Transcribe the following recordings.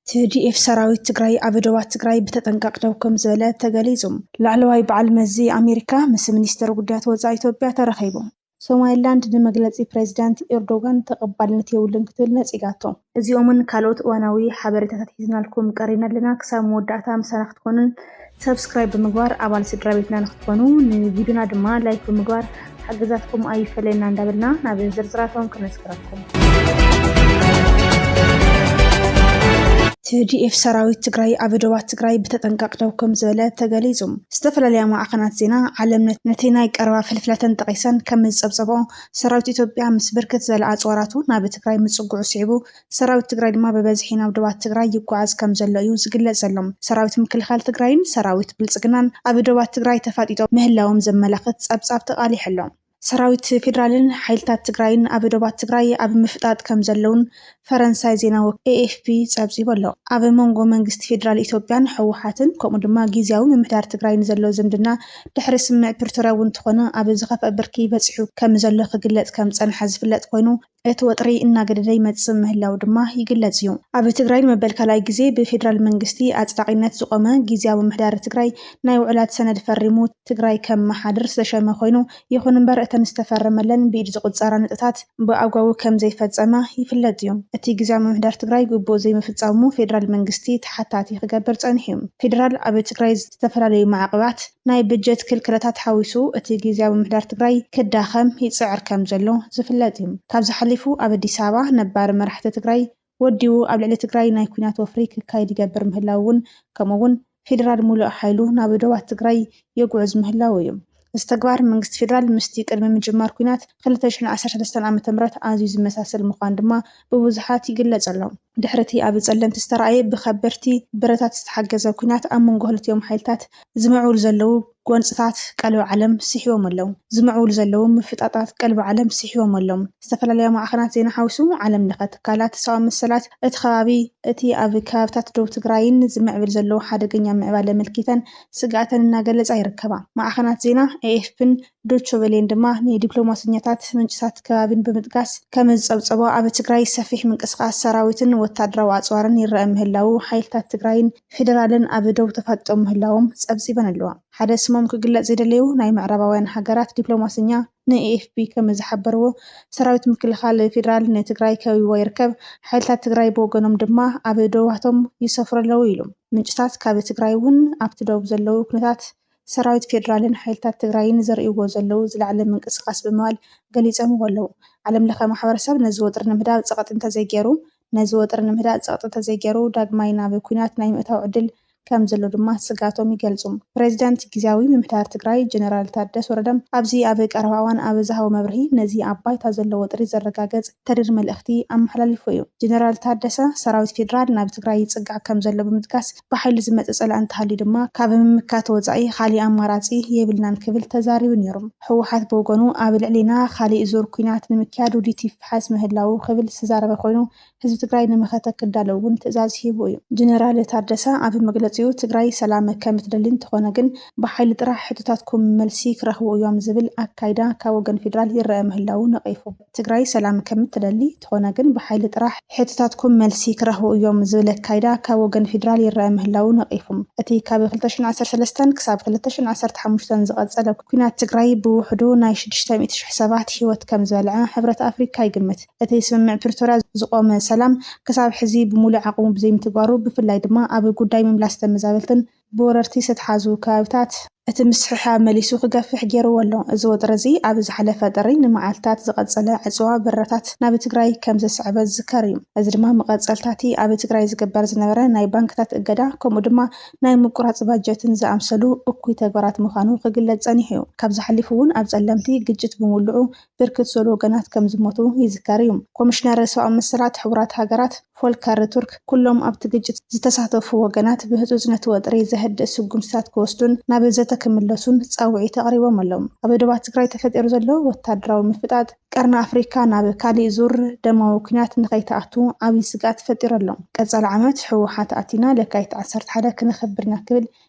ቲዲኤፍ ሰራዊት ትግራይ ኣብ ዶባት ትግራይ ብተጠንቀቕ ደው ከምዝበለ ተገሊፁ። ላዕለዋይ በዓል መዚ ኣሜሪካ ምስ ሚኒስትር ጉዳያት ወፃኢ ኢትዮጵያ ተራኺቡ። ሶማሊላንድ ንመግለፂ ፕሬዚዳንት ኤርዶጋን ተቐባልነት የብሉን ክትብል ነፂጋቶ። እዚኦምን ካልኦት እዋናዊ ሓበሬታታት ሒዝናልኩም ቀሪብና ኣለና። ክሳብ መወዳእታ ምሳና ክትኮኑን Subscribe ብምግባር ኣባል ስድራቤትና ንክትኮኑ ንቪድዮና ድማ ላይክ ብምግባር ሓገዛትኩም ኣይፈለየና እንዳበልና ናብ ዝርዝራቶም ክነስግረኩም። ቲዲኤፍ ሰራዊት ትግራይ ኣብ ዶባት ትግራይ ብተጠንቀቕ ደው ከም ዝበለ ተገሊጹ። ዝተፈላለያ ማዕኸናት ዜና ዓለም ነቲ ናይ ቀረባ ፍልፍላተን ጠቒሰን ከም ዝጸብጸብኦ፣ ሰራዊት ኢትዮጵያ ምስ ብርክት ዝበለ ኣጽዋራቱ ናብ ትግራይ ምጽግዑ ስዒቡ ሰራዊት ትግራይ ድማ ብበዝሒ ናብ ዶባት ትግራይ ይጓዓዝ ከምዘሎ እዩ ዝግለፅ ዘሎ። ሰራዊት ምክልኻል ትግራይን ሰራዊት ብልፅግናን ኣብ ዶባት ትግራይ ተፋጢጦም ምህላዎም ዘመላኽት ፀብፃብ ተቃሊሑ ኣሎ። ሰራዊት ፌዴራልን ሓይልታት ትግራይን ኣብ ዶባት ትግራይ ኣብ ምፍጣጥ ከምዘለዉን ፈረንሳይ ዜና ወኪል ኤኤፍፒ ፀብፂቡ ኣሎ። ኣብ ሞንጎ መንግስቲ ፌዴራል ኢትዮጵያን ህወሓትን ከምኡ ድማ ጊዚያዊ ምምሕዳር ትግራይን ዘሎ ዝምድና ድሕሪ ስምምዕ ፕሪቶርያ እውን እንተኾነ ኣብ ዝኸፍኣ ብርኪ በፂሑ ከምዘሎ ክግለፅ ከምዝፀንሐ ዝፍለጥ ኮይኑ እቲ ወጥሪ እናገደደ ይመፅእ ምህላው ድማ ይግለፅ እዩ። ኣብ ትግራይ ንመበል ካልኣይ ግዜ ብፌዴራል መንግስቲ ኣፅዳቒነት ዝቖመ ጊዚያዊ ምምሕዳር ትግራይ ናይ ውዕላት ሰነድ ፈሪሙ ትግራይ ከመሓድር ዝተሸመ ኮይኑ ይኹን እምበር እተን ዝተፈረመለን ብኢድ ዝቑፀራ ነጥብታት ብኣግባቡ ከምዘይፈፀመ ይፍለጥ እዩ። እቲ ጊዚያዊ ምምሕዳር ትግራይ ግቡኡ ዘይምፍፃሙ ፌዴራል መንግስቲ ተሓታቲ ክገብር ፀኒሑ እዩ። ፌዴራል ኣብ ትግራይ ዝተፈላለዩ ማዕቕባት ናይ ብጀት ክልከላታት ሓዊሱ እቲ ጊዚያዊ ምምሕዳር ትግራይ ክዳኸም ይፅዕር ከም ዘሎ ዝፍለጥ እዩ። ካብዚ ሓሊፉ ኣብ ኣዲስ ኣበባ ነባሪ መራሕቲ ትግራይ ወዲቡ ኣብ ልዕሊ ትግራይ ናይ ኲናት ወፍሪ ክካየድ ይገብር ምህላዉ እውን ከምኡ እውን ፌዴራል ሙሉእ ሓይሉ ናብ ዶባት ትግራይ የጉዕዝ ምህላዉ እዩ። እዚ ተግባር መንግስቲ ፌዴራል ምስቲ ቅድሚ ምጅማር ኲናት ክልተ ሽሕን ዓሰርተ ሰለስተን ዓመተ ምህረት ኣዝዩ ዝመሳሰል ምዃኑ ድማ ብብዙሓት ይግለፅ ኣሎ። ድሕሪ'ቲ ኣብ ጸለምቲ ዝተራእየ ብከበድቲ ብረታት ዝተሓገዘ ኲናት ኣብ መንጎ ክልቲኦም ሓይልታት፣ ዝምዕብሉ ዘለዉ ጎንጽታት ቀልቢ ዓለም ስሒቦም ኣለዉ። ዝምዕብሉ ዘለዉ ምፍጣጣት ቀልቢ ዓለም ስሒቦም ኣሎም። ዝተፈላለያ ማዕኸናት ዜና ሓዊሱ ዓለም ለኸ ትካላት ሰብኣዊ መሰላት እቲ ከባቢ፣ እቲ ኣብ ከባብታት ዶብ ትግራይን ዝምዕብል ዘሎ ሓደገኛ ምዕባለ ምልኪተን ስግኣተን እናገለጻ ይርከባ። ማዕኸናት ዜና ኤኤፍፒን ዶቸ ቨሌን ድማ ንዲፕሎማሰኛታት ምንጭታት ከባቢን ብምጥቃስ ከምዝፀብፀቦ ኣብ ትግራይ ሰፊሕ ምንቅስቓስ ሰራዊትን ወታደራዊ ኣፅዋርን ይረኣ ምህላዉ ሓይልታት ትግራይን ፌደራልን ኣብ ዶብ ተፋጢጦም ምህላዎም ፀብፂበን ኣለዋ። ሓደ ስሞም ክግለፅ ዘይደለዩ ናይ ምዕራባውያን ሃገራት ዲፕሎማሰኛ ንኤኤፍፒ ከምዝሓበርዎ ሰራዊት ምክልኻል ፌደራል ንትግራይ ከቢብዋ ይርከብ፣ ሓይልታት ትግራይ ብወገኖም ድማ ኣብ ዶባቶም ይሰፍሩ ኣለዉ ኢሉ። ምንጭታት ካብ ትግራይ እውን ኣብቲ ዶብ ዘለዉ ኩነታት ሰራዊት ፌዴራልን ሓይልታት ትግራይን ዘርእይዎ ዘለዉ ዝለዓለ ምንቅስቓስ ብምባል ገሊፆምዎ ኣለዉ። ዓለም ለኸ ማሕበረሰብ ነዚ ወጥሪ ንምህዳእ ፀቕጢ እንተዘይገይሩ ነዚ ወጥሪ ንምህዳእ ፀቕጢ እንተዘይገይሩ ዳግማይ ናብ ኲናት ናይ ምእታው ዕድል ከም ዘሎ ድማ ስግኣቶም ይገልፁ። ፕሬዚዳንት ጊዚያዊ ምምሕዳር ትግራይ ጀነራል ታደስ ወረደ ኣብዚ ኣብ ቀረባ እዋን ኣብ ዝሃቦ መብርሂ ነዚ ኣብ ባይታ ዘሎ ወጥሪ ዘረጋገፅ ተሪር መልእኽቲ ኣመሓላሊፉ እዩ። ጀነራል ታደሰ ሰራዊት ፌዴራል ናብ ትግራይ ይፅጋዕ ከም ዘሎ ብምጥቃስ ብሓይሊ ዝመፀ ፀላኢ እንተሃልዩ ድማ ካብ ምምካት ወፃኢ ካሊእ ኣማራፂ የብልናን ክብል ተዛሪቡ ነይሩ። ህወሓት ብወገኑ ኣብ ልዕሊና ካሊእ ዙር ኲናት ንምክያድ ውዲት ይፈሓስ ምህላዉ ክብል ዝተዛረበ ኮይኑ ህዝቢ ትግራይ ንመኸተ ክዳሎ እውን ትእዛዝ ሂቡ እዩ። ጀነራል ታደሰ ኣብ መግለፂኡ ትግራይ ሰላም ከምትደሊ እንተኾነ ግን ብሓይሊ ጥራሕ ሕቶታትኩም መልሲ ክረኽቡ እዮም ዝብል ኣካይዳ ካብ ወገን ፌዴራል ይረኣ ምህላዉ ነቒፉ። ትግራይ ሰላም ከምትደሊ ተኾነ ግን ብሓይሊ ጥራሕ ሕቶታትኩም መልሲ ክረኽቡ እዮም ዝብል ኣካይዳ ካብ ወገን ፊድራል ይረኣ ምህላዉ ነቒፉ። እቲ ካብ ክልተ ሽሕን ዓሰርተ ሰለስተን ክሳብ ክልተ ሽሕን ዓሰርተ ሓሙሽተን ዝቐጸለ ኲናት ትግራይ ብውሕዱ ናይ ሽዱሽተ ሚእቲ ሽሕ ሰባት ህይወት ከምዝበልዐ ሕብረት ኣፍሪካ ይግምት። እቲ ስምምዕ ፕሪቶርያ ዝቖመ ሰላም ክሳብ ሕዚ ብሙሉእ ዓቕሙ ብዘይምትግባሩ ብፍላይ ድማ ኣብ ጉዳይ ምምላስ ተመዛበልትን ብወረርቲ ዝተትሓዙ ከባቢታት እቲ ምስሕሓብ መሊሱ ክገፍሕ ገይርዎ ኣሎ። እዚ ወጥሪ እዚ ኣብ ዝሓለፈ ጥሪ ንመዓልታት ዝቐጸለ ዕጽዋ በረራታት ናብ ትግራይ ከም ዘስዐበ ዝዝከር እዩ። እዚ ድማ መቐጸልታ'ቲ ኣብ ትግራይ ዝግበር ዝነበረ ናይ ባንክታት እገዳ ከምኡ ድማ ናይ ምቁራጽ ባጀትን ዝኣምሰሉ እኩይ ተግባራት ምዃኑ ክግለጽ ጸኒሑ'ዩ። ካብዚ ሓሊፉ'ውን ኣብ ጸለምቲ ግጭት ብምውልዑ ብርክት ዝበሉ ወገናት ከም ዝሞቱ ይዝከር እዩ። ኮሚሽነር ሰብኣዊ መሰላት ሕቡራት ሃገራት ፎልከር ቱርክ ኩሎም ኣብቲ ግጭት ዝተሳተፉ ወገናት ብህፁፅ ነቲ ወጥሪ ዘህድእ ስጉምትታት ክወስዱን ናብ ዘተ ክምለሱን ፃውዒት ኣቕሪቦም ኣለው። ኣብ ዶባት ትግራይ ተፈጢሩ ዘሎ ወታደራዊ ምፍጣጥ ቀርኒ ኣፍሪካ ናብ ካሊእ ዙር ደማዊ ኲናት ንከይትኣቱ ዓብይ ስግኣት ፈጢሩ ኣሎ። ቀፃሊ ዓመት ህወሓት ኣቲና ለካቲት ዓሰርተ ሓደ ክነኽብር ኢና ክብል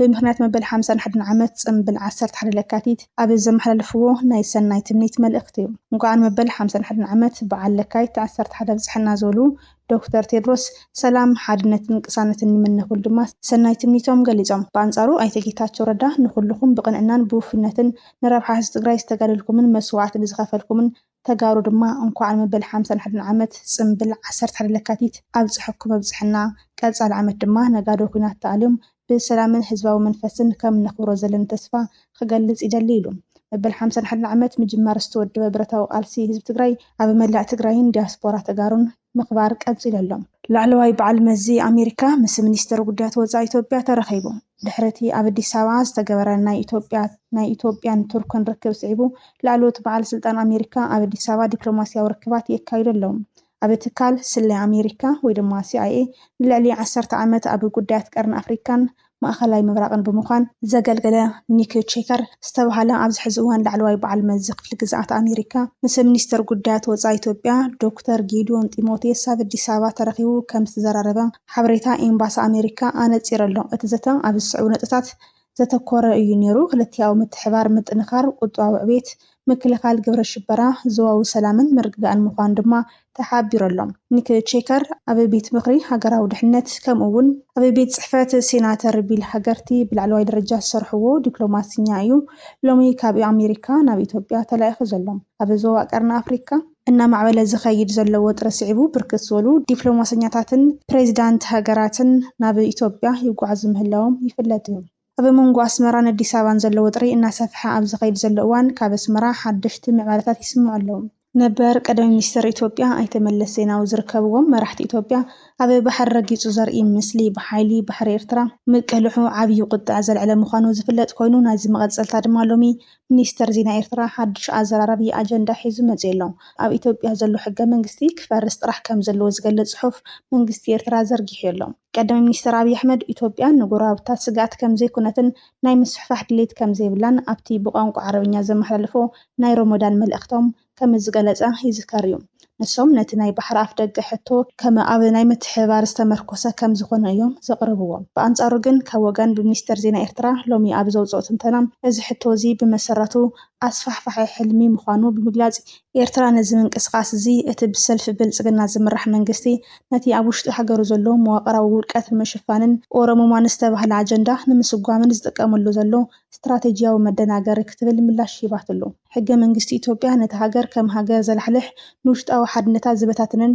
ብምኽንያት መበል ሓምሳን ሓደን ዓመት ጽምብል ዓሰርተ ሓደ ለካቲት ኣብ ዘመሓላለፍዎ ናይ ሰናይ ትምኒት መልእኽቲ እንቋዕ ንመበል ሓምሳን ሓደን ዓመት በዓል ለካይት ዓሰርተ ሓደ ኣብጽሐና ዝበሉ ዶክተር ቴድሮስ ሰላም፣ ሓድነትን ቅሳነትን ይምነ ክብሉ ድማ ሰናይ ትምኒቶም ገሊጾም። ብኣንጻሩ ኣይተ ጌታቸው ረዳ ንኹልኹም ብቕንዕናን ብውፉይነትን ንረብሓ ህዝቢ ትግራይ ዝተጋደልኩምን መስዋዕቲ ንዝኸፈልኩምን ተጋሩ ድማ እንኳዕ ንመበል ሓምሳን ሓደን ዓመት ፅምብል ዓሰርተ ሓደ ለካቲት ኣብፀሐኩም ኣብፀሐና። ቀፃሊ ዓመት ድማ ነጋዶ ኲናት ተኣልዮም ብሰላምን ህዝባዊ መንፈስን ከም እነኽብሮ ዘለኒ ተስፋ ኽገልፅ ይደሊ ኢሉ። መበል ሓምሳን ሓደን ዓመት ምጅማር ዝተወደበ ብረታዊ ቃልሲ ህዝቢ ትግራይ ኣብ መላእ ትግራይን ዲያስፖራ ተጋሩን፣ ምኽባር ቀፂሉ ኣሎ። ላዕለዋይ በዓል መዚ ኣሜሪካ ምስ ሚኒስትር ጉዳያት ወፃኢ ኢትዮጵያ ተራኺቡ። ድሕሪ እቲ ኣብ ኣዲስ ኣበባ ዝተገበረ ናይ ኢትዮጵያ ናይ ኢትዮጵያን ቱርክን ርክብ ስዒቡ ላዕለዎት በዓል ስልጣን ኣሜሪካ ኣብ ኣዲስ ኣበባ ዲፕሎማሲያዊ ርክባት የካይዱ ኣለው። ኣብ ትካል ስለያ ኣሜሪካ ወይ ድማ ሲኣይኤ ንልዕሊ ዓሰርተ ዓመት ኣብ ጉዳያት ቀርኒ ኣፍሪካን ማእኸላይ ምብራቕን ብምዃን ዘገልገለ ኒክ ቼከር ዝተብሃለ ኣብዚ ሕዚ እዋን ላዕለዋይ በዓል መዚ ክፍሊ ግዝኣት ኣሜሪካ ምስ ሚኒስተር ጉዳያት ወፃኢ ኢትዮጵያ ዶክተር ጌዲዮን ጢሞቴዎስ ኣብ ኣዲስ ኣበባ ተረኺቡ ከምዝተዘራረበ ሓበሬታ ኤምባሲ ኣሜሪካ ኣነፂሩ ኣሎ። እቲ ዘተ ኣብ ዝስዕቡ ነጥብታት ዘተኮረ እዩ ነይሩ፣ ክልቲኣዊ ምትሕብባር ምጥንኻር፣ ቁጠባዊ ዕቤት፣ ምክልኻል ግብረ ሽበራ ዞባዊ ሰላምን ምርግጋእን ምዃኑ ድማ ተሓቢሩ'ሎ። ኒክ ቼከር ኣብ ቤት ምኽሪ ሃገራዊ ድሕነት ከምኡ እውን ኣብ ቤት ጽሕፈት ሴናተር ቢል ሃገርቲ ብላዕለዋይ ደረጃ ዝሰርሕዎ ዲፕሎማስኛ እዩ ሎሚ ካብ ኣሜሪካ ናብ ኢትዮጵያ ተላኢኹ ዘሎ። ኣብ ዞባ ቀርኒ ኣፍሪካ እናማዕበለ ዝኸይድ ዘሎ ወጥሪ ስዒቡ ብርክት ዝበሉ ዲፕሎማሰኛታትን ፕሬዚዳንት ሃገራትን ናብ ኢትዮጵያ ይጓዓዙ ምህላዎም ይፍለጥ እዩ። ኣብ መንጎ ኣስመራን ኣዲስ ኣበባን ዘሎ ወጥሪ እናሰፍሐ ኣብ ዝኸይድ ዘሎ እዋን ካብ ኣስመራ ሓደሽቲ ምዕባለታት ይስምዑ ኣለዉ። ነበር ቀዳማይ ሚኒስተር ኢትዮጵያ ኣይተ መለስ ዜናዊ ዝርከብዎም መራሕቲ ኢትዮጵያ ኣብ ባሕሪ ረጊጹ ዘርኢ ምስሊ ብሓይሊ ባሕሪ ኤርትራ ምቅልሑ ዓብዪ ቁጠዐ ዘልዐለ ምዃኑ ዝፍለጥ ኮይኑ ናይዚ መቐጸልታ ድማ ሎሚ ሚኒስተር ዜና ኤርትራ ሓድሽ ኣዘራራቢ ኣጀንዳ ሒዙ መጺኡ'ሎ። ኣብ ኢትዮጵያ ዘሎ ሕገ መንግስቲ ክፈርስ ጥራሕ ከምዘለዎ ዝገልጽ ጽሑፍ መንግስቲ ኤርትራ ዘርጊሑ'ሎ። ቀዳማይ ሚኒስትር ኣብይ ኣሕመድ፣ ኢትዮጵያ ንጎረባብታ ስግኣት ከምዘይኮነትን ናይ ምስፍሕፋሕ ድሌት ከምዘይብላን ኣብቲ ብቋንቋ ዓረብኛ ዘመሓላለፎ ናይ ሮሞዳን መልእኽቶም ከምዝገለጸ ይዝከር እዩ። ንሶም ነቲ ናይ ባሕሪ ኣፍደገ ሕቶ ከም ኣብ ናይ ምትሕብባር ዝተመርኮሰ ከምዝኾነ እዮም ዘቕርብዎ። ብኣንጻሩ ግን ካብ ወገን ብሚኒስተር ዜና ኤርትራ ሎሚ ኣብ ዘውጽኦ ትንተና እዚ ሕቶ እዚ ብመሰረቱ ኣስፋሕፋሒ ሕልሚ ምዃኑ ብምግላጽ፣ ኤርትራ ነዚ ምንቅስቓስ እዚ እቲ ብሰልፊ ብልጽግና ዝምራሕ መንግስቲ ነቲ ኣብ ውሽጢ ሃገሩ ዘሎ መዋቕራዊ ውድቀት ንምሽፋንን ኦሮሙማ ንዝተባህለ ኣጀንዳ ንምስጓምን ዝጥቀመሉ ዘሎ ስትራተጂያዊ መደናገሪ ክትብል ምላሽ ሂባትሉ። ሕገ መንግስቲ ኢትዮጵያ ነታ ሃገር ከም ሃገር ዘላሕልሕ፣ ንውሽጣዊ ሓድነታ ዝበታትንን፣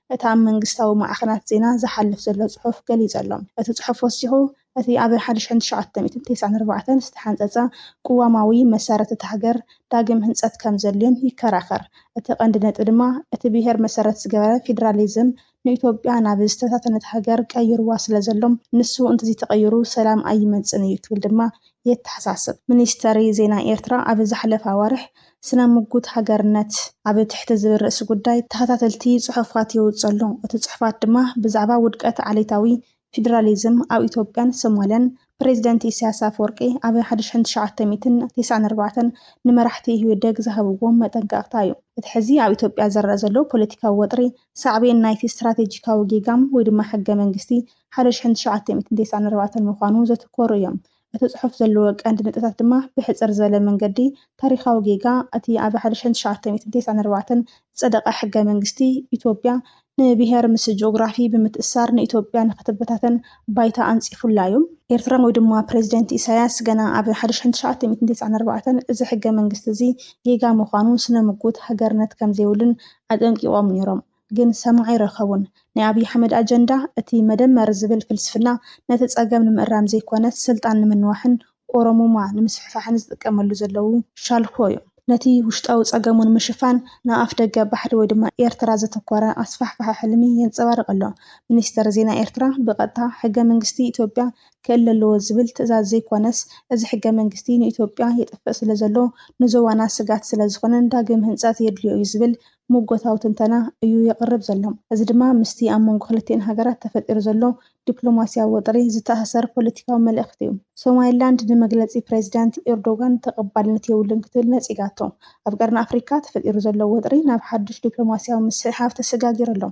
እቲ ኣብ መንግስታዊ ማዕኸናት ዜና ዝሓልፍ ዘሎ ጽሑፍ ገሊጸ'ሎ። እቲ ጽሑፍ ወሲኹ፣ እቲ ኣብ ሓደ ሺሕን ትሽዓተ ሚእትን ቴስዓን ኣርባዕተን ዝተሓንጸጸ ቅዋማዊ መሰረት እታ ሃገር ዳግም ህንጸት ከም ዘድልዮን ይከራኸር። እቲ ቀንዲ ነጥቢ ድማ እቲ ብሄር መሰረት ዝገበረ ፌደራሊዝም ንኢትዮጵያ ናብ ዝተበታተነት ሃገር ቀይሩዋ ስለ ዘሎ ንሱ እንተዘይተቐይሩ ሰላም ኣይመጽእን'ዩ ክብል ድማ የተሓሳስብ። ሚኒስተሪ ዜና ኤርትራ ኣብ ዝሓለፈ ኣዋርሕ ስነ ምጉት ሃገርነት ኣብ ትሕቲ ዝብል ርእሲ ጉዳይ ተኸታተልቲ ጽሑፋት የውጽእ ኣሎ። እቲ ጽሑፋት ድማ ብዛዕባ ውድቀት ዓሌታዊ ፊደራሊዝም ኣብ ኢትዮጵያን ሶማልያን ፕረዚደንት ኢሳያስ ኣፈወርቂ ኣብ ሓደ ሽሕን ትሽዓተ ሚእትን ቴስዓን ኣርባዕተን ንመራሕቲ ኢህወደግ ዝሃብዎ መጠንቀቕታ እዩ። እቲ ሕዚ ኣብ ኢትዮጵያ ዝረኣ ዘሎ ፖለቲካዊ ወጥሪ ሳዕቤን ናይቲ ስትራቴጂካዊ ጌጋም ወይ ድማ ሕገ መንግስቲ ሓደ ሽሕን ትሽዓተ ሚእትን ቴስዓን ኣርባዕተን ምዃኑ ዘትኮሩ እዮም። እቲ ጽሑፍ ዘለዎ ቀንዲ ነጥብታት ድማ ብሕጽር ዝበለ መንገዲ ታሪኻዊ ጌጋ እቲ ኣብ ሓደ ሺሕን ትሽዓተ ሚእትን ቴስዓን ኣርባዕተን ዝጸደቐ ሕገ መንግስቲ ኢትዮጵያ ንብሄር ምስ ጂኦግራፊ ብምትእስሳር ንኢትዮጵያ ንኽትበታተን ባይታ ኣንጺፉላ እዩ። ኤርትራ ወይ ድማ ፕረዚደንት ኢሳይያስ ገና ኣብ ሓደ ሺሕን ትሽዓተ ሚእትን ቴስዓን ኣርባዕተን እዚ ሕገ መንግስቲ እዚ ጌጋ ምዃኑ ስነ ምጉት ሃገርነት ከምዘይብሉን ኣጠንቂቖም ነይሮም። ግን ሰማዒ ኣይረኸቡን። ናይ ኣብይ ኣሕመድ ኣጀንዳ እቲ መደመር ዝብል ፍልስፍና ነቲ ፀገም ንምእራም ዘይኮነስ ስልጣን ንምንዋሕን ኦሮሙማ ንምስፍሕፋሕን ዝጥቀመሉ ዘለዉ ሻልሆ ዩ። ነቲ ውሽጣዊ ፀገሙ ንምሽፋን ናብ ኣፍደገ ባሕሪ ወይ ድማ ኤርትራ ዘተኮረ ኣስፋሕፋሒ ሕልሚ የንፀባርቕ ኣሎ። ሚኒስተር ዜና ኤርትራ ብቐጥታ ሕገ መንግስቲ ኢትዮጵያ ክእለ ኣለዎ ዝብል ትእዛዝ ዘይኮነስ እዚ ሕገ መንግስቲ ንኢትዮጵያ የጥፍእ ስለዘሎ ንዞባና ስግኣት ስለዝኾነን ዳግም ህንፀት የድልዮ ዩ ዝብል ምጎታዊ ትንተና እዩ የቕርብ ዘሎ። እዚ ድማ ምስቲ ኣብ መንጎ ክልቲኤን ሃገራት ተፈጢሩ ዘሎ ዲፕሎማሲያዊ ወጥሪ ዝተኣሳሰር ፖለቲካዊ መልእኽቲ እዩ። ሶማሊላንድ ንመግለጺ ፕረዚዳንት ኤርዶጋን ተቐባልነት የብሉን ክትብል ነጺጋቶ። ኣብ ቀርኒ ኣፍሪካ ተፈጢሩ ዘሎ ወጥሪ ናብ ሓዱሽ ዲፕሎማሲያዊ ምስሕሓብ ተሰጋጊሩ ኣሎ።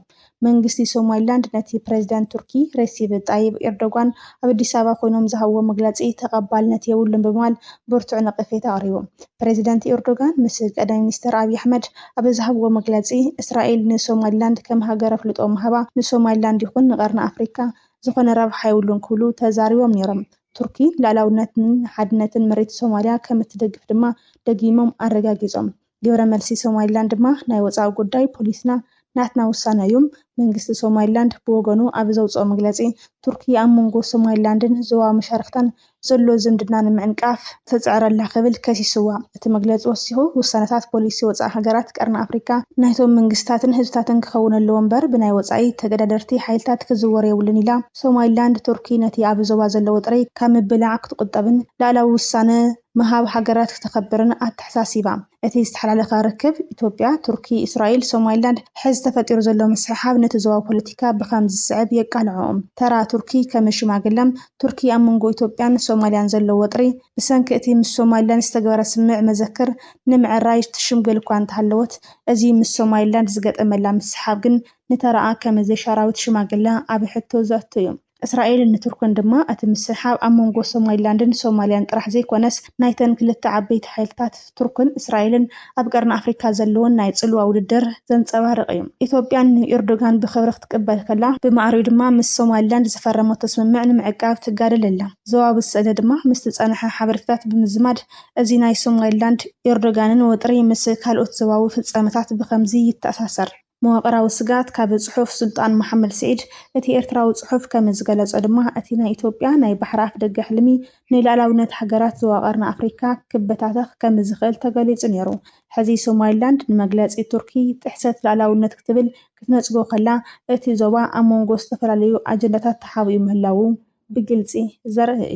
መንግስቲ ሶማሊላንድ ነቲ ፕረዚደንት ቱርኪ ሬሲብ ጣይብ ኤርዶጋን ኣብ ኣዲስ ኣበባ ኮይኖም ዝሃብዎ መግለጺ ተቐባልነት የብሉን ብምባል ብርቱዕ ነቐፌታ ኣቕሪቡ። ፕረዚደንት ኤርዶጋን ምስ ቀዳማይ ሚኒስተር ኣብይ ኣሕመድ ኣብ ዝሃብዎ መግለጺ፣ እስራኤል ንሶማሊላንድ ከም ሃገር ኣፍልጦ ምሃባ ንሶማሊላንድ ይኹን ንቀርኒ ኣፍሪካ ዝኾነ ረብሓ የብሉን ክብሉ ተዛሪቦም ነይሮም። ቱርኪ ልኣላውነትን ሓድነትን መሬት ሶማሊያ ከምእትደግፍ ድማ ደጊሞም ኣረጋጊጾም። ግብረ መልሲ ሶማሊላንድ ድማ ናይ ወፃኢ ጉዳይ ፖሊስና ናትና ውሳነ እዩም። መንግስቲ ሶማሊላንድ ብወገኑ ኣብ ዘውፅኦ መግለፂ ቱርኪ ኣብ መንጎ ሶማሊላንድን ዞባዊ መሻርኽታን ዘሎ ዝምድና ንምዕንቃፍ ትፅዕር ኣላ ክብል ከሲስዋ። እቲ መግለፂ ወሲኹ ውሳነታት ፖሊሲ ወፃኢ ሃገራት ቀርኒ ኣፍሪካ ናይቶም መንግስታትን ህዝብታትን ክኸውን ኣለዎ እምበር ብናይ ወፃኢ ተገዳደርቲ ሓይልታት ክዝወር የብሉን ኢላ። ሶማሊላንድ ቱርኪ ነቲ ኣብ ዞባ ዘሎ ወጥሪ ካብ ምብላዕ ክትቁጠብን ልኣላዊ ውሳነ ምሃብ ሃገራት ክተኸብርን ኣተሓሳሲባ። እቲ ዝተሓላለኸ ርክብ ኢትዮጵያ፣ ቱርኪ፣ እስራኤል፣ ሶማሊላንድ ሕዚ ተፈጢሩ ዘሎ ምስሕሓብ ነቲ ዞባዊ ፖለቲካ ብኸምዚ ዝስዕብ የቃልዖ። ተራ ቱርኪ ከም ሽማግለ፣ ቱርኪ ኣብ መንጎ ኢትዮጵያን ሶማሊያን ዘሎ ወጥሪ ብሰንኪ እቲ ምስ ሶማሊላንድ ዝተገበረ ስምምዕ መዘክር ንምዕራይ ትሽምግል እኳ እንተሃለወት እዚ ምስ ሶማሊላንድ ዝገጠመላ ምስሕሓብ ግን ንተራኣ ከም ዘይሻራዊት ሽማግለ ኣብ ሕቶ ዘእቱ እዩ። እስራኤልን ቱርክን ድማ እቲ ምስሕሓብ ኣብ መንጎ ሶማሊላንድን ሶማልያን ጥራሕ ዘይኮነስ ናይተን ክልተ ዓበይቲ ሓይልታት ቱርክን እስራኤልን ኣብ ቀርኒ ኣፍሪካ ዘለወን ናይ ፅልዋ ውድድር ዘንፀባርቕ እዩ። ኢትዮጵያ ንኤርዶጋን ብኽብሪ ክትቅበል ከላ ብማዕሪኡ ድማ ምስ ሶማሊላንድ ዝፈረመቶ ስምምዕ ንምዕቃብ ትጋደል ኣላ። ዞባዊ ስእለ ድማ ምስቲ ዝፀንሐ ሓበሬታታት ብምዝማድ እዚ ናይ ሶማሊላንድ ኤርዶጋንን ወጥሪ ምስ ካልኦት ዞባዊ ፍፃመታት ብኸምዚ ይተኣሳሰር። መዋቕራዊ ስግኣት ካብ ጽሑፍ ሱልጣን መሓመድ ስዒድ እቲ ኤርትራዊ ጽሑፍ ከም ዝገለጾ ድማ እቲ ናይ ኢትዮጵያ ናይ ባሕሪ ኣፍደገ ሕልሚ ንልኣላዊነት ሃገራት ዞባ ቀርኒ ኣፍሪካ ክበታተኽ ከም ዝኽእል ተገሊጹ ነይሩ ሕዚ ሶማሊላንድ ንመግለጺ ቱርኪ ጥሕሰት ልኣላዊነት ክትብል ክትነጽጎ ከላ እቲ ዞባ ኣብ መንጎ ዝተፈላለዩ ኣጀንዳታት ተሓቢኡ ምህላዉ ብግልጺ ዘርኢ እዩ።